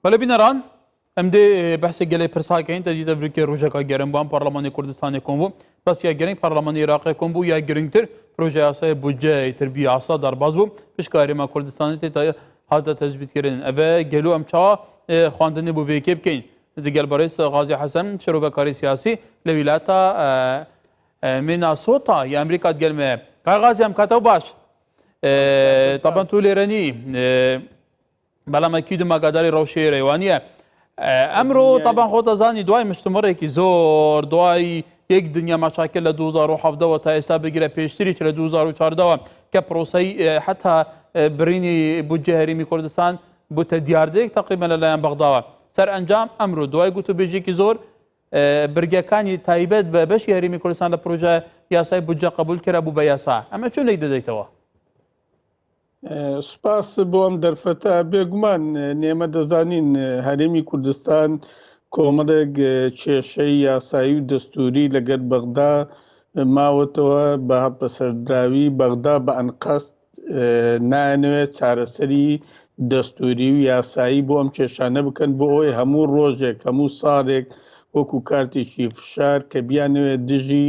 بەلە بینەران ئەم دێ بەسێک گەلێ پرساکەین دەدی دەبرکێ ڕژەکە گەرم بان پەرلەمانی کوردستانی کۆم بوو بەس یا گەرنگ پەرلەمانی عراقی کۆم بوو یا گرنگتر پرۆژه یاسای بودجەی تربی یاسا دەرباز بوو پشکاریمە کوردستانی تێ هاتە تەزبیتکردن ئەە گەلو ئەم چاوە خواندنی بۆ وێکێ بکەین دگەل بەڕێز غازی حەسەن شرۆڤەکاری سیاسی لە ویلاتە میناسۆتا یا ئەمریکات گەلمێ کاغازی ئەم کاتەوە باش طبعا تو لێرەنی بەڵام ئەکیدم ئاگاداری ڕەوشەی رێوانە ئەمرۆ تاپان خۆتەزانی دوای مشتمەڕێکی زۆر دوای یەک دنیا مەشاکە لە 2010ەوە تا ئێستا بگرە پێشتریش لە 2014ەوە کە پرۆسی حتا برینی بودجە هەرمی کوردستان بوتە دیاردەیەک تقریبا لەلایەن بەغداوە سەر ئەنجام ئەمرو دوای گوتو بێژێکی زۆر برگەکانی تایبەت بە بەشی هەرمی کوردستان لە پروۆژە یاسای بودجە قبول کرا بوو بە یاسا ئەمە چۆن لێک دەدەیتەوە سوپاس بۆ ئەم دەرفەتە بێگومان نێمە دەزانین هەرێمی کوردستان کۆمەڵێک کێشەی یاسایی و دەستوری لەگەر بەغدا ماوەتەوە بە هەڵپەسەردراوی بەغدا بە ئەنقەست نانوێت چارەسەری دەستوری و یاسایی بۆ ئەم کێشانە بکەن بۆ ئەوەی هەموو ڕۆژێک هەموو ساڵێک وەکو کارتێکی فشار کە بیانوێت دژی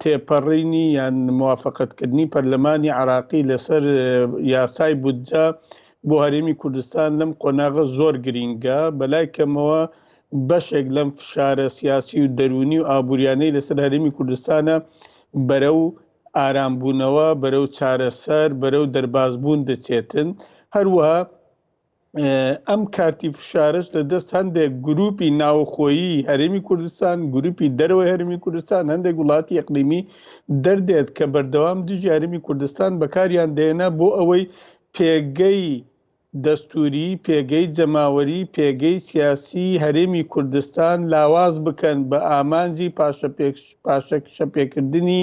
تێپەڕینی یان موافەقەتکردنی پەرلەمانی عێراقی لەسەر یاسای بودجە بۆ هەرێمی کوردستان لەم قۆناغە زۆر گرینگە بەلای کەمەوە بەشێک لەم فشارە سیاسی و دەرونی و ئابوووریانەی لەسەر هەرمی کوردستانە بەرە و ئارامبوونەوە بەرە و چارەسەر بەرە و دەربازبوون دەچێتن هەروەها ئەم کارتی فشارش لە دەست هەندێک گروپی ناوخۆیی هەرێمی کوردستان گروپی دەرەوەی هەرمی کوردستان هەندێک وڵاتی یەقلیمی دەردێت کە بەردەوام دژی هەرمی کوردستان بەکاریان دێنە بۆ ئەوەی پێگەی دەستوری پێگەی جەماوەری پێگەی سیاسی هەرێمی کوردستان لاواز بکەن بە ئامانجی پاشە پاشەکشە پێکردنی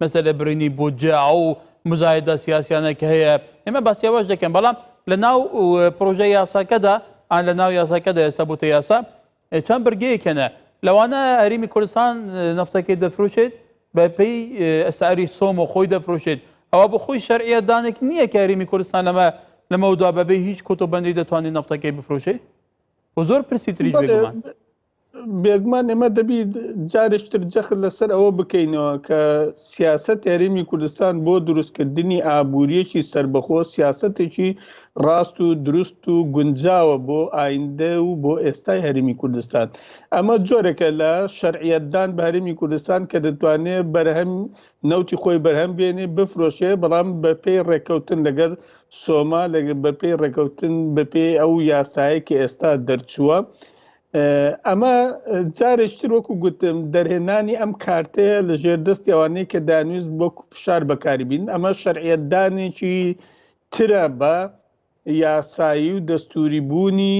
مەسەلە برینی بودجە ئەو مزایدە سیاسیانە کە هەیە ئێمە باسی ئەوەش دەکەن بەڵام لە ناو پرۆژە یاساکەدا ئان لە ناو یاساکەدا ئێستا بوتە یاسا چەند برگەیەکەنە لەوانە هەرمی کوردستان نفتەکەی دەفروشێت بە پێی ئەساری سۆم و خۆی دەفروشێت ئەوە بۆ خۆی شەرعە دانێک نییە کە هەرمی کوردستان لەمە لەمەودا بەبێ هیچ کۆتۆبندی دەتوانێت نفتەکەی بفرۆشێ و زۆر پرسی تریش بێگومان بێگومان ئێمە دەبی جارێکی تر جەخت لەسەر ئەوە بکەینەوە کە سیاسەت هەرێمی کوردستان بۆ دروستکردنی ئابووریەکی سربەخۆ سیاسەتێکی ڕاست و دروست و گونجاوە بۆ ئایندە و بۆ ئێستای هەرمی کوردستان ئەمە جۆرەکە لە شەرعەتدان بە هەرمی کوردستان کە دەتوانێت بەرهەم نەوتی خۆی بەرهەم بێنێ بفرۆشێ بەڵام بەپی ڕێککەوتن لەگەر سۆما لە بەپی ڕێککەوتن بەپی ئەو یاسایە کە ئێستا دەرچووە ئەمە جارێکتر وەکو گوتم دەرهێنانی ئەم کارتەیە لە ژێر دەستی ئەوانەیە کە دانویست بۆ فشار بەکاری بین ئەمە شەرعەتدانێکی ترە بە یاسایی و دەستوری بوونی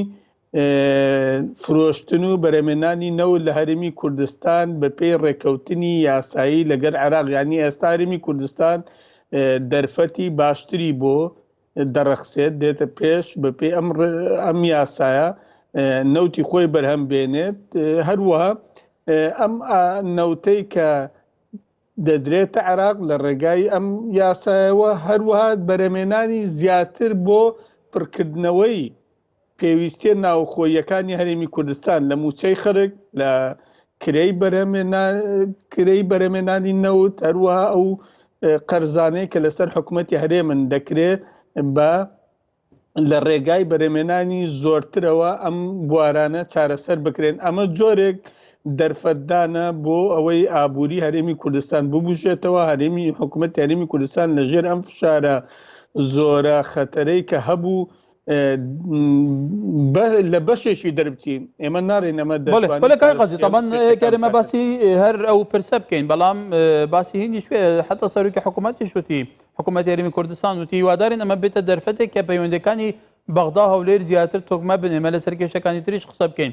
فرۆشتن و بەرەمێنانی نەوت لە هەرمی کوردستان بە پێی ڕێکەوتنی یاسایی لەگەر عراقیانی ئێستارمی کوردستان دەرفەتی باشتری بۆ دەڕەخسێت دێتە پێش بەپێی ئەم ئەم یاسایە نەوتی خۆی بەرهەم بێنێت هەروەها ئەم نەوتەی کە دەدرێتە عراق لە ڕێگای ئەم یاسایەوە هەروەها بەرەمێنانی زیاتر بۆ پڕکردنەوەی پێویستیە ناوخۆییەکانی هەرێمی کوردستان لە مووچەی خەرک لە کرێی کرێی بەرەمێنانی نەوت هەروەها ئەو قەرزانەیە کە لەسەر حکوومەتتی هەرێمن دەکرێت بە لە ڕێگای بەرەمێنانی زۆرترەوە ئەم بوارانە چارەسەر بکرێن ئەمە جۆرێک دەرفەتدانە بۆ ئەوەی ئابووری هەرێمی کوردستان ببژێتەوە هەرێمی حکوومەت یاریمی کوردستان لەژێر ئەم فشارە زۆرە خەتەرەی کە هەبوو لە بەشێکی دەربچین ئێمە نارێن ئەمە دەمە باسی هەر ئەو پرسە بکەین بەڵام باسی هینی شوێ حتا سەرروکی حکوومەتی شوتی حکوومەت یاریمی کوردستان وتی وادارین ئەمە بێتە دەرفەتێک کە پەیوەندەکانی بەغدا هەولێر زیاتر تۆکمە بنێمە لە سەرکێشەکانی تریش قسە بکەین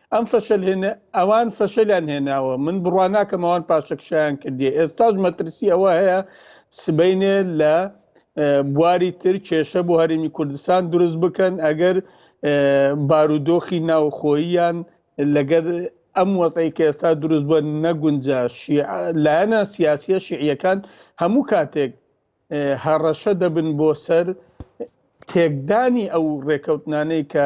ئەم فەشەل هێنە ئەوان فەشەلیان هێناوە من بڕواناکەم ئەوان پاشەکشیان کردی ئێستاش مەترسی ئەوە هەیە سبینێ لە بواری تر کێشە بۆ هەرمی کوردستان دروست بکەن ئەگەر بارودۆخی ناوخۆییان لەگەر ئەم وەزی کە ئێستا دروست بە نەگونجا لایەنە سیاسیە شیعەکان هەموو کاتێک هەڕەشە دەبن بۆ سەر تێکدانی ئەو ڕێکەوتنانەی کە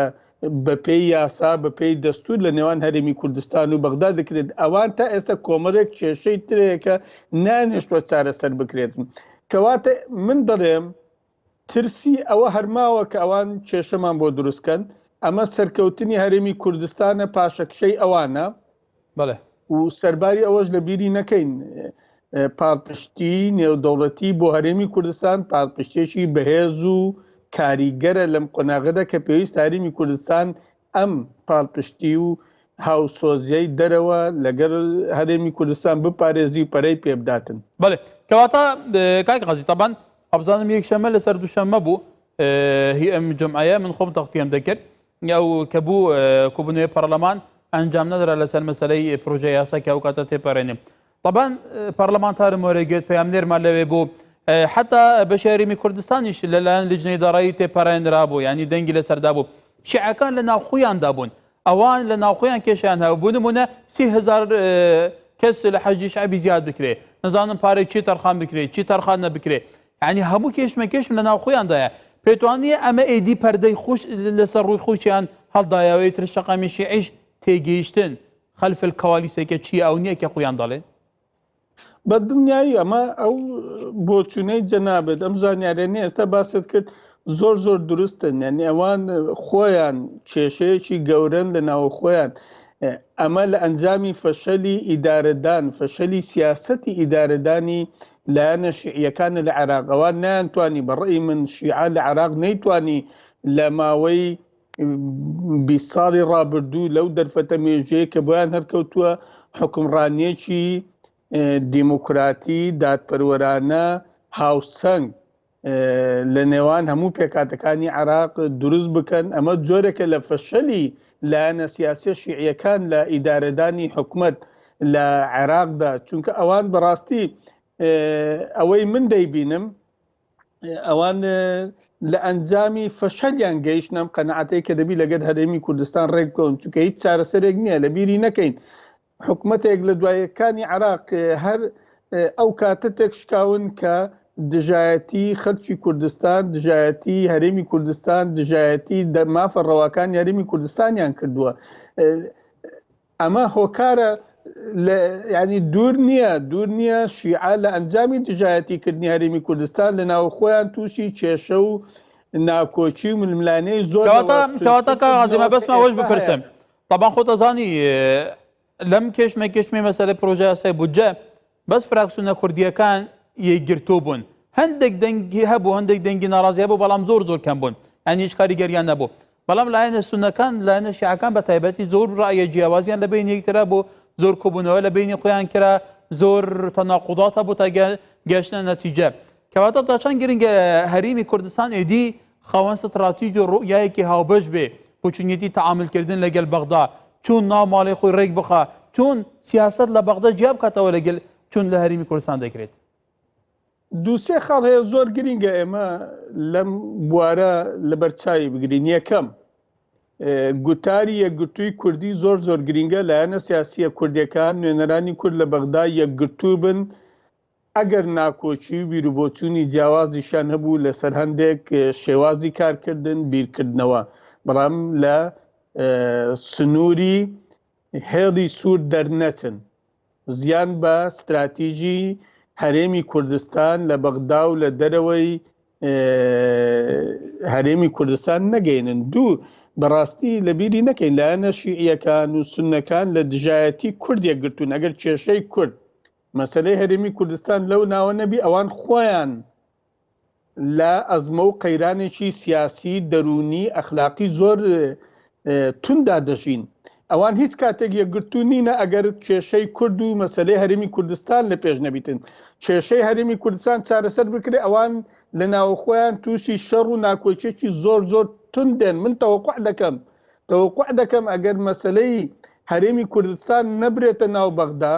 بەپێی یاسا بەپێی دەستور لە نێوان هەرێمی کوردستان و بەغدا دەکرێت ئەوان تا ئێستا کۆمەرێک کێشەی ترەیەکە نانێشتوە چارەسەر بکرێتن کەواتە من دەڵێم ترسی ئەوە هەرماوە کە ئەوان کێشەمان بۆ دروستکەن ئەمە سەرکەوتنی هەرێمی کوردستانە پاشەکشەی ئەوانە بەڵێ. و سەرباری ئەوەش لە بیری نەکەین پاڵپشتی نێودەوڵەتی بۆ هەرێمی کوردستان پاڵپشتێکی بەهێز و کاریگەرە لەم قۆناغەدا کە پێویست هاریمی کوردستان ئەم پاڵپشتی و هاوسۆزیای دەرەوە لەگەر هەرێمی کوردستان بپارێزی و پەرەی پێبداتن بەێ کەواتە کاک قازی تەبان ئەبزانم یەک شەمە لەسەر دووشەمە بوو هی ئەم جمعایە من خۆم تەختیم دەکرد ئەو کە بوو کوبنەوەی پەرلەمان ئەنجام نەدرا لەسەر مەسلەی پرۆژە یاسا کە ئەو کاتە تێپەرێنێ طبعاان پەرلەمانتار مۆرە گوێت پەیام نێرمان لەوێ بوو حتا بە شاریمی کوردستانیش لەلایەن لجنەی دارایی تێپەرێنرا بوو ینی دەنگی لەسەردا بوو شعەکان لە ناوخۆیاندا بوون ئەوان لە ناوخۆیان کێشیان هەبوو بوو نمونە سیهزار کەس لە حەجی شعبی زیاد بکرێ نزانم پارێک چی تەرخان بکرێت چی تەرخان نەبکرێت یانی هەموو کێشمە کێشم لە ناو خۆیاندایە پێتوانیە ئەمە ئێدی پەردەی خوش لەسەر ڕووی خۆشیان هەڵدایەوەی تر شەقامی شیعیش تێگەیشتن خەلف الکوالیسەکە چیە ئەو نییە کە خۆیان دەڵێن بە دڵنیایی ئەمە ئەو بۆچوونەی جەنابێت ئەم زانیارێنی ئێستا باست کرد زۆر زۆر دروستن یعنی ئەوان خۆیان کێشەیەکی گەورن لە ناوە خۆیان ئەمە لە ئەنجامی فەشەلی ئیدارەدان فەشەلی سیاستی ئیدارەدانی لایەنە شیعیەکانە لە عێراقەوە نەیانتوانی بە ڕێی من شیعە لە عێراق نەیتوانی لە ماوەی بی ساڵی ڕابردوو لەو دەرفەتە مێژەیە کە بۆیان هەرکەوتووە حکمڕانیەکی دیموکراتی دادپەروەرانە هاوسەنگ لە نێوان هەموو پێکاتەکانی عراق دروست بکەن ئەمە جۆرێکە لە فەشەلی لایەنە سیاسیە شیعیەکان لە ئیدارەدانی حکومت لە عێراقدا چونکە ئەوان بەڕاستی ئەوەی من دەیبینم ئەوان لە ئەنجامی فەشەلیان گەیشتنم قەنەعاتەی کە دەبی لەگەر هەرێمی کوردستان ڕێک بکەون چونکە هیچ چارەسەرێک نییە لە بیری نەکەین حکومەتێک لە دوای یەکانی عێراق هەر ئەو کاتە تێکشکاون کە دژایەتی خەلکی کوردستان دژایەتی هەرێمی کوردستان دژایەتی دەمافە ڕەواکان یاریمی کوردستانیان کردووە ئەمە هۆکارە ینی دوور نییە دوور نییە شیعە لە ئەنجامی دژایەتیکردنی هەرمی کوردستان لە ناو خۆیان تووشی کێشە و ناکۆکی و ململانەی زۆرتەواتە بەسمەوەش بپرسم طبعا خۆت ئەزانی لەم کێشمە کێشمی مەسەلە پرۆژە یاسای بودجە بەس فراکسونە کوردیەکان یەکگرتوو بوون هەندێک دەنگی هەبوو هەندێک دەنگی ناڕازی هەبوو بەڵام زۆر زۆر کەم بوون ئەنی هیچ کاریگەریان نەبوو بەڵام لایەنە سونەکان لایەنە شیعەکان بە تایبەتی زۆر ڕایە جیاوازیان لە بین یەکترا بوو زۆر کۆبوونەوە لە بینی خۆیان کرا زۆر تەناقضات هەبوو تا گەشتە نەتیجە کەواتە تا چەند گرنگە هەرێمی کوردستان ئێدی خاوەن ستڕاتیج و ڕوئیایەکی هاوبەش بێ، بۆچونیەتی تەعامل کردن لە گەل بەغدا، چون ناو ماڵی خۆی ڕێک بخا، چون سیاسەت لە بەغدا جیا بکاتەوە لە گەل چون لە هەرێمی کوردستان دەکرێت. دوو سێ خاڵ هەیە زۆر گرینگە ئێمە لەم بوارە لە بەر چاوی بگرین. یەکەم، گوتاری یەکگرتووی کوردی زۆر زۆر گرینگە، لایەنە سیاسییە کوردێکان، نوێنەرانی کورد لە بەغدا یەکگرتوو بن، ئەگەر ناکۆکی و بیروبۆچوونی جیاوازیشیان هەبوو لەسەر هەندێک شێوازی کارکردن، بیرکردنەوە، بەڵام لە سنووری هێڵی سوور دەرنەچن، زیان بە ستراتیژی هەرێمی کوردستان لە بەغدا و لە دەرەوەی هەرێمی کوردستان نەگەینن. دوو، بەڕاستی لەبیری نەکەین لایەنە شیعییەکان و سوننەکان لە دژایەتی کورد یەکگرتوون، ئەگەر کێشەی کورد مەسەلەی هەرێمی کوردستان لەو ناوە نەبی ئەوان خۆیان لە ئەزمە و قەیرانێکی سیاسی دەروونی ئەخلاقی زۆر توندا دەژین ئەوان هیچ کاتێک یەکگرتو نینە ئەگەر کێشەی کورد و مەسلەی هەرمی کوردستان لە پێش نەبیتن کێشەی هەرمی کوردستان چارەسەر بکرێ ئەوان لە ناوخۆیان تووشی شەڕ و ناکۆچێکی زۆر زۆر تندێن من تەوەقع دەکەم تەوەقع دەکەم ئەگەر مەسلەی هەرێمی کوردستان نەبرێتە ناو بەغدا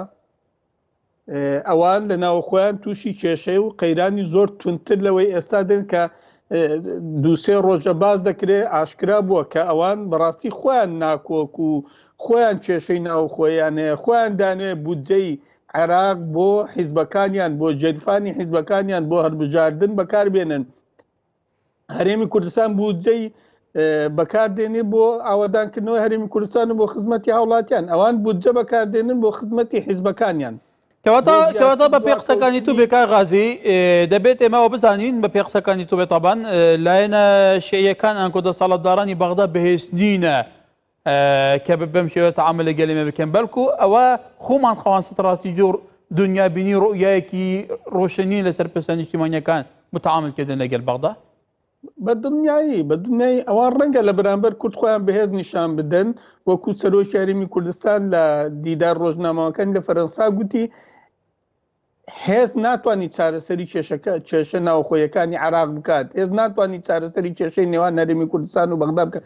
ئەوان لە ناوخۆیان تووشی کێشەی و قەیرانی زۆر تونتر لەوەی ئێستا دێن کە دووسێ ڕۆژە باز دەکرێ ئاشکرا بووە کە ئەوان بەڕاستی خۆیان ناکۆک و خۆیان کێشەی ناوخۆیان هەیە خۆیان دانێ بودجەی عێراق بۆ حیزبەکانیان بۆ جێرفانی حیزبەکانیان بۆ هەربژاردن بەکاربێنن هەرێمی کوردستان بودجەی بەکاردێنێ بۆ ئاوادانکردنەوە هەرێمی کوردستان و بۆ خزمەتی هاوڵاتیان ئەوان بودجە بەکاردێنن بۆ خزمەتی حیزبەکانیان کەواتەواتە بە پێ قسەکانی تو بێکا غازی دەبێت ئێمەەوە بزانین بە پێ قسەکانی تو بێتابان لایەنە شەیەکان ئەنکۆ دەسەڵاتدارانی بەغدا بەهێز نینە کە بەم شێوە تەعامل لەگەل ئێمە بکەن، بەڵکو ئەوە خۆمان خاوەن ستڕاتیجی و دونیابینی و ڕوئیایەکی ڕۆشن نین لەسەر پرسە نیشتیمانییەکان بۆ تەعاملکردن لەگەل بەغدا. بە دڵنیایی، بە دڵنیایی ئەوان ڕەنگە لە بەرامبەر کورد خۆیان بەهێز نیشان بدەن، وەکو سەرۆکی هەرێمی کوردستان لە دیدار ڕۆژنامەوانەکانی لە فەرەنسا گوتی، هێز ناتوانانی چارەسەری کێشەکە کێشە ناوخۆیەکانی عراق بکات هێز ناتوانانی چارەسەری کێشەی نێوان نەرمی کوردستان و بەغدا بکە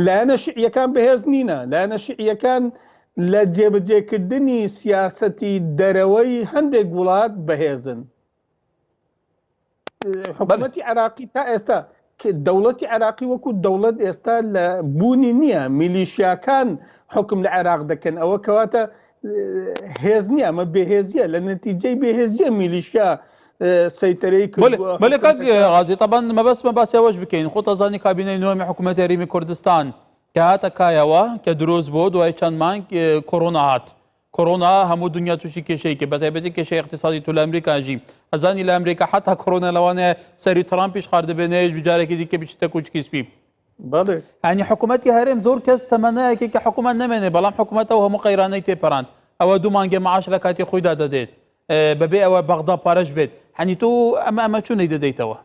لایەنە شعیەکان بەهێز نینە لایەنە شعیەکان لە جێبجێکردنی سیاسەتی دەرەوەی هەندێک وڵات بەهێزن حکوومەتی عراقی تا ئێستا دەوڵەتی عراقی وەکو دەوڵەت ئێستا لە بوونی نییە میلیشیاکان حکم لە عێراق دەکەن ئەوە کەواتە هێز نیە ئەمە بێهێزیە لە نەتیجەی بێهێزیە میلیشیا سەیتەرەی غازی تەبان مەبەستمە باسیەوەش بکەین خۆ تەزانی کابینەی نوێمی حکوومەت یاریمی کوردستان کە هاتە کایەوە کە دروست بۆ دوای چەند مانگ کۆرۆنا هات کۆرۆنا هەموو دونیا توشی کێشەی کرد بەتایبەتی کێشەی اقتصادی تۆ لە ئەمریکاژی ئەزانی لە ئەمریکا حتا کۆرۆنا لەوانەیە سەری تڕامپیش خار دەبێنێش بجارێکی دیکە بچیتە کوچکی سپی ئەنی حکوومەتتی هەرێم زۆر کەس تەمەنایەکی کە حکوومەت نامێنێ بەڵام حکوومەتەوە هەموو قەیرانەی تێپەراند ئەوە دوو مانگێ معاش لە کاتی خۆیدا دەدێت بەبێ ئەوە بەغدا پارەش بێت هەنی تۆ ئەمە ئەمە چونەی دەدەیتەوە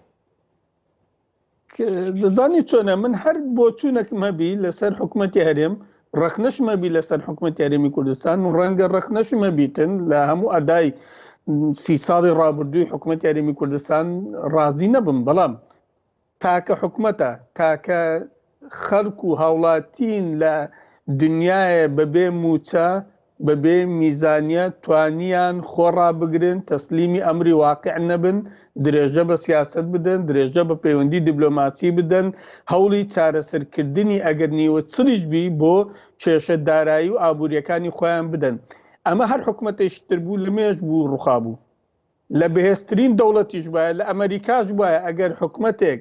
دەزانی چۆنە من هەر بۆ چوونەکم هەبی لەسەر حکوومەتتی هەرێم ڕخنەشمەبی لەسەر حکوومەت یاریمی کوردستان و ڕەنگە ڕخنەشمەبیتن لە هەموو ئەدای سی ساڵی ڕابردووی حکوومەت یاریمی کوردستان ڕازی نەبم بەڵام تاکە حکوومەتە تاکە خەڵک و هاوڵاتین لە دنیایێ بە بێ مووچە، بە بێ میزانیە توانیان خۆ ڕابگرن، تەسلیمی ئەمری واقیع نەبن، درێژە بە سیاسەت بدەن، درێژە بە پەیوەندی دیبلۆماسی بدەن، هەوڵی چارەسەر کردنی ئەگەر نیوە چڵیش بی بۆ کێشە دارایی و ئابووریەکانی خۆیان بدەن. ئەمە هەر حکومەتێکی تر بوو لە مێژ بوو ڕوخابوو. لە بەهێزترین دەوڵەتیش بایە، لە ئەمەریکاش بایە ئەگەر حکومەتێک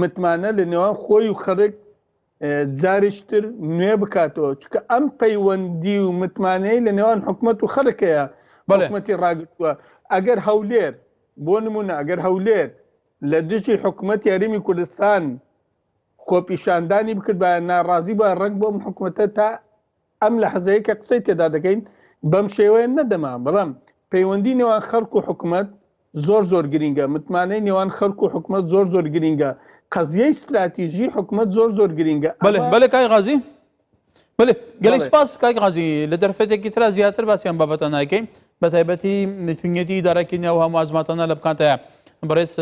متمانە لە نێوان خۆی و خەرک جاریشتر نوێ بکاتەوە چکە ئەم پەیوەندی و متمانەی لە نێوان حکومت و خەرکەیە بەڵێمەتی ڕاگرتووە ئەگەر هەولێر بۆ نمونە ئەگەر هەولێر لە دژی حکومت یاریمی کوردستان خۆپیشاندانی بکردبایە ناڕازی بە ڕنگ بۆم حکوومەتە تا ئەم لەحزەیەی کە قسەی تێدا دەکەین بەم شێوەیە نەدەما، بەڵام پەیوەندی نێوان خەڵک و حکومەت زۆر زۆر گرینگە، متمانەی نێوان خەڵک و حکومەت زۆر زۆر گرینگە، قەزیەی ستراتیژی حکومەت زۆر زۆر گرینگە. بەلێ بەلێ کاک غازی بەلێ گەلێک سپاس کاک غازی لە دەرفەتێکی ترا زیاتر باسی ئەم بابەتە نایکەین بە تایبەتی چونیەتی ئیدارەکی نێو هەموو ئەزماتانە لە بکانتەیە بەڕێز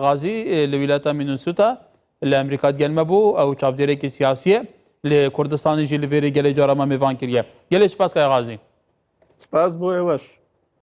غازی لە ویلاتە مینوسوتا لە ئەمریکا گەل مەبوو ئەو چاودێرێکی سیاسیە لێ کوردستانیژی لە ڤێری گەلێ جارەمە مێڤان کریە گەلێ سپاس کاغازی. سپاس بۆ ئێوەش.